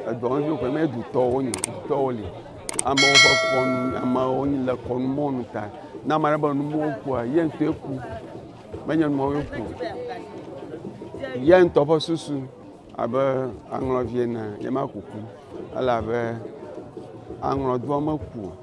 Edɔ ŋu ƒe mɛ du tɔ wo nyi tɔ wo li. Amewo ƒe kɔnu amewo nyi le kɔnu mɔ nu ta. Na ame aɖe be nu mɔ kua ye ŋutɔ eku. Menye mɔ ye ku. Ye ŋutɔ ƒe susu abe aŋlɔvi ene ye ma kuku. Ele abe aŋlɔ doa me ku.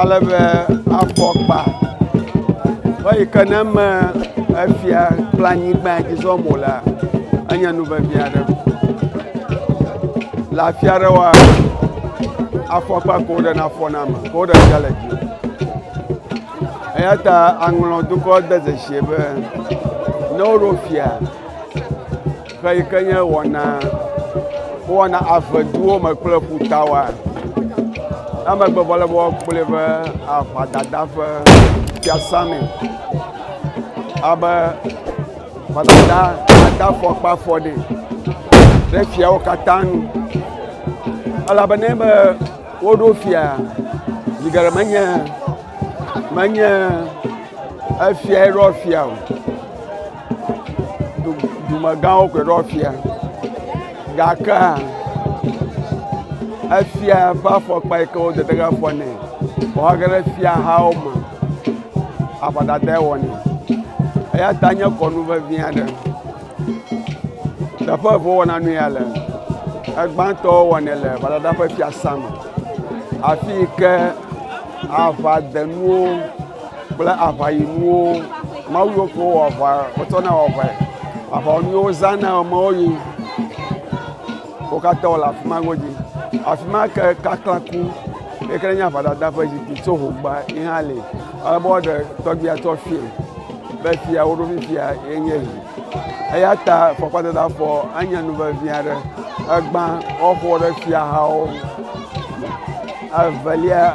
ale be afɔkpa eyi ke ne eme efia kple anyigba yi dzi zɔm wòlea enye nu vevi aɖe. Le afi aɖewoa afɔkpa ko woɖe na afɔ na ame ko woɖe fia le dzi. Eya ta aŋlɔ dukɔ de dzesi be ne woɖo fia Ƒe yi ke nye wɔna wowɔna ave duwo me kple ƒuta wa. Emegbe vɔ le be woakplɔe va aʋadada ƒe fiasã me. Abe ʋadada ada fɔkpa fɔ ɖi ɖe fiawo katã nu. Elabe ne be woɖo fia zi geɖe menye menye efiae ɖɔ fia o. dumegãwo koe ɖɔ fia gake efia ƒe afɔkpa yi ke wode ɖe afɔ nɛ vɔ age ɖe fiahawo me aʋadadae wɔnɛ eya ta nye kɔnu vevi aɖe teƒe eve wowɔna nu ya le egbãtɔ wowɔnɛ le gbadada ƒe fiasã me afi yi ke aʋadenuwo kple aʋayinuwo mawu yiwo ke wowɔ aʋa wotsɔna wɔ aʋae aʋawɔnu yiwo wozãna amewo yi wo katã wole afi ma godzi afi ma ke kaklaku yi ke nye aʋadada ƒe zikpui tso hogba yi hã li ale be woaɖe tɔgbia tso afii be fia wo ɖo fifia ye nye yi eya ta fɔkpadzada fɔ enye nu vevi aɖe egbã woaƒo ɖe fiahawo ŋu evelia.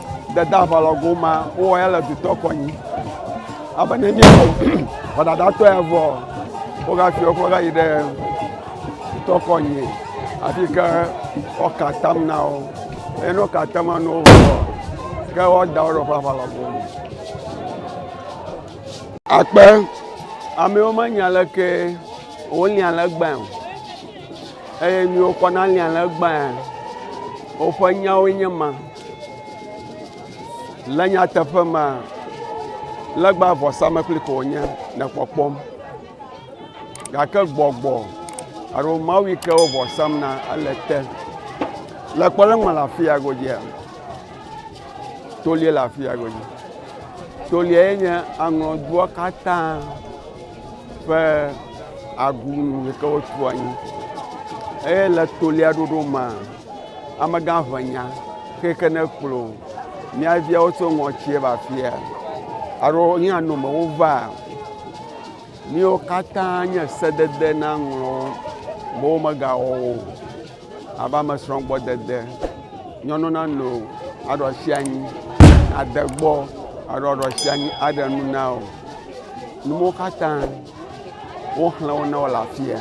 dede aʋalɔ goma wowɔ ya le dutɔ kɔnyi abe ne nye ʋɔdadatɔ ya vɔ wogafi wokɔ gayi ɖe dutɔ kɔnyi afi ke woka atam na wo eye ne woka atam na wo vɔ ke woada wo ɖe woƒe aʋalɔ gome akpe amewo menya leke wolia legba o eye miwo kɔ nalia legba woƒe nyawoe nye ma Le nyateƒe mea, legba vɔsamlekpui ko wònye le kpɔkpɔm gake gbɔgbɔ alo mawu yi ke wo vɔ sam na ele te. Le kpɔ ɖe emea le afi ya godzia tolie le afi ya godzi. Tolia ye nye aŋɔdua katã ƒe agunu yi ke wotu anyi eye le tolia ɖoɖo mea. Amegã ʋenya xexexe ne kplɔ mía viawo tso ŋɔtsie va fia alo yín anɔ me wo va. Míwo katã nye sedede na ŋlɔ be wo me ga wɔ wo. Ava me srɔ̃ gbɔ dede. Nyɔnu na no aɖɔ sia nyi ade gbɔ aɖɔ aɖɔ sia nyi aɖe nu na wo. Nuwo katã wo xlẽ wo na wo le afia.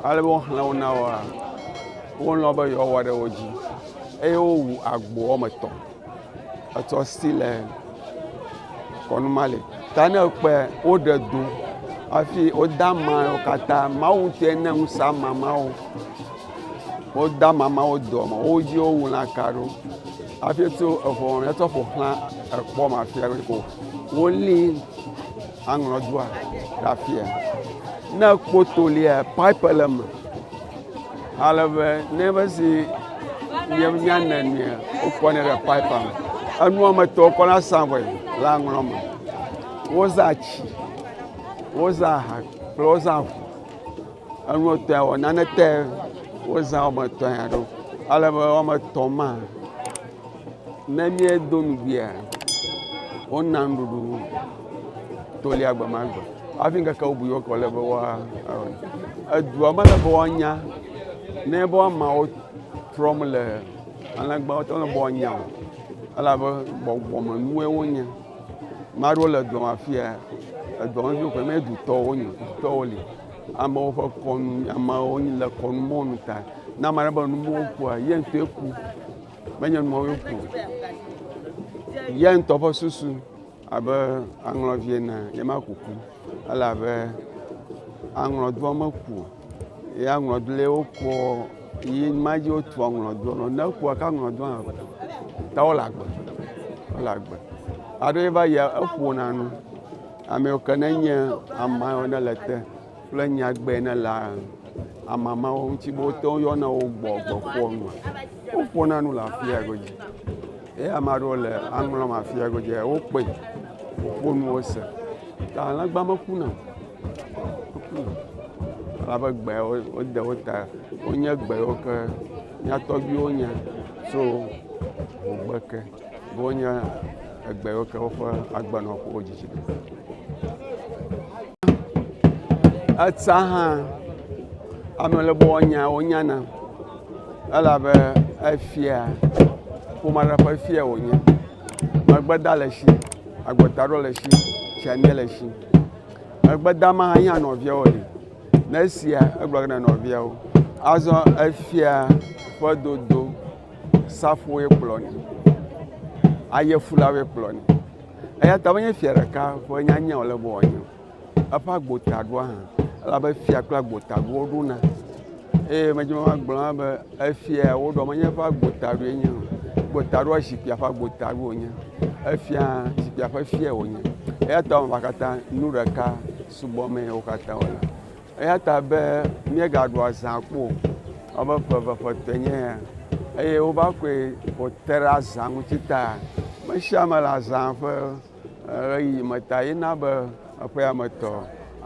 Ale be wo xlẽ wo na woa. wolɔ̃ be yewoawɔ ɖe wo dzi eye wowu agbo woame etɔ̃. Etsɔ si le kɔnu ma li. Ta ne ekpɔe woɖe do hafi wode ama wo katã. Mawu ŋutɔe na ŋusẽ ama mawo. Wode ama mawo doa me. Wo dzi wowu lãka ɖo hafi tso eŋɔ hetsɔ ƒo xlã ekpɔ ma fia be ko wolí aŋlɔdua ɖe afia. Ne ekpɔ to lia, pipe le eme. Ale be ne ebe zi nye nya ne nea, wokɔ ne ɖe pipe me. Enua me tɔ wokɔ na sa vɔe le aŋlɔ me. Wozã tsi, wozã aha kple wozã ʋu. Enua tɔe wɔ nane tɔe wozã wɔme etɔ̃ ya ɖo. Ale be wɔme etɔ̃ ma. Ne míedo nugbea, wona nuɖuɖu nu tolia gbe ma gbe hafi ŋkeke bubu yiwo ke wòle be woawɔ nɛ. Edua mele be woanya ne be woamawo trɔm le alẽgbawo te mele be woanya o elabe gbɔgbɔmenuwoe wonye. Ame aɖewo le dua me afia edua me viwo koe menye dutɔwo wonye o. Dutɔwo li amewo ƒe kɔnu amewo le kɔnu mɔnu ta ne ame aɖe be nuwo ƒoa ye ŋutɔe ku. menye nuawo ƒo ya ŋutɔ ƒe susu abe aŋlɔvi ene ye ma kuku ele abe aŋlɔdoa meku ye aŋlɔdoa wokɔ yi ma dzi wotu aŋlɔdoa nɔ ne kua ka aŋlɔdoa hã ta wole agbe wole agbe aɖo va yi eƒona nu ame ke ne nye ama ne le te. kple nyagbe ne le amamawo ŋuti be wote wo yɔna wo gbɔ gbɔ ƒoa nu. Woƒona nu le afia godzi. Ye ame aɖewo le aŋlɔm afia godzi wokpɔe woƒo nuwo se. Ta alẽgba mekuna o. Mekuna o. Elabe gbe wode wo ta. Wonye gbe yiwo ke mía tɔgbuiwo nya tso ŋugbe ke. Wonye egbe yiwo ke woƒe agbenɔƒewo dzidzi ɖo. Etsa hã ame le bɔ nya wonyana elabe efia ƒome aɖe ƒe fia wònye. Megbeda le si, agbetaɖo le si, tsiamie le si. Megbedama hã nye nɔviawo li. Ne esia egblɔ ge na nɔviawo. Azɔ efia ƒe dodo. safowoe kplɔnɛ, ayefulawoe kplɔnɛ eya ta menye fia ɖeka ƒe nyanyae wòle be wòanye o, eƒe agbotaɖoa hã elabe fia kple agbotaɖo woɖona eye medzi be magblɔ hã be efia ya woɖoa menye eƒe agbotaɖoe nye o, agbotaɖoa zikpuia ƒe agbotaɖoe wònye, efia hã zikpuia ƒe fiae wònye eya ta eme katã nu ɖeka subɔmee wo katã wole. Eya ta be míegaɖu azã kpɔ o, elabe ƒe eve ƒe etɔ̃e nye ya, eye wova kɔe wòte ɖe azã ŋuti ta. Ame sia ame le azã ƒe ɣeyiɣi me ta ye na be eƒea me tɔ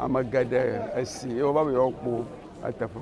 ame geɖe esi eye wova be yewoakpɔ eteƒe.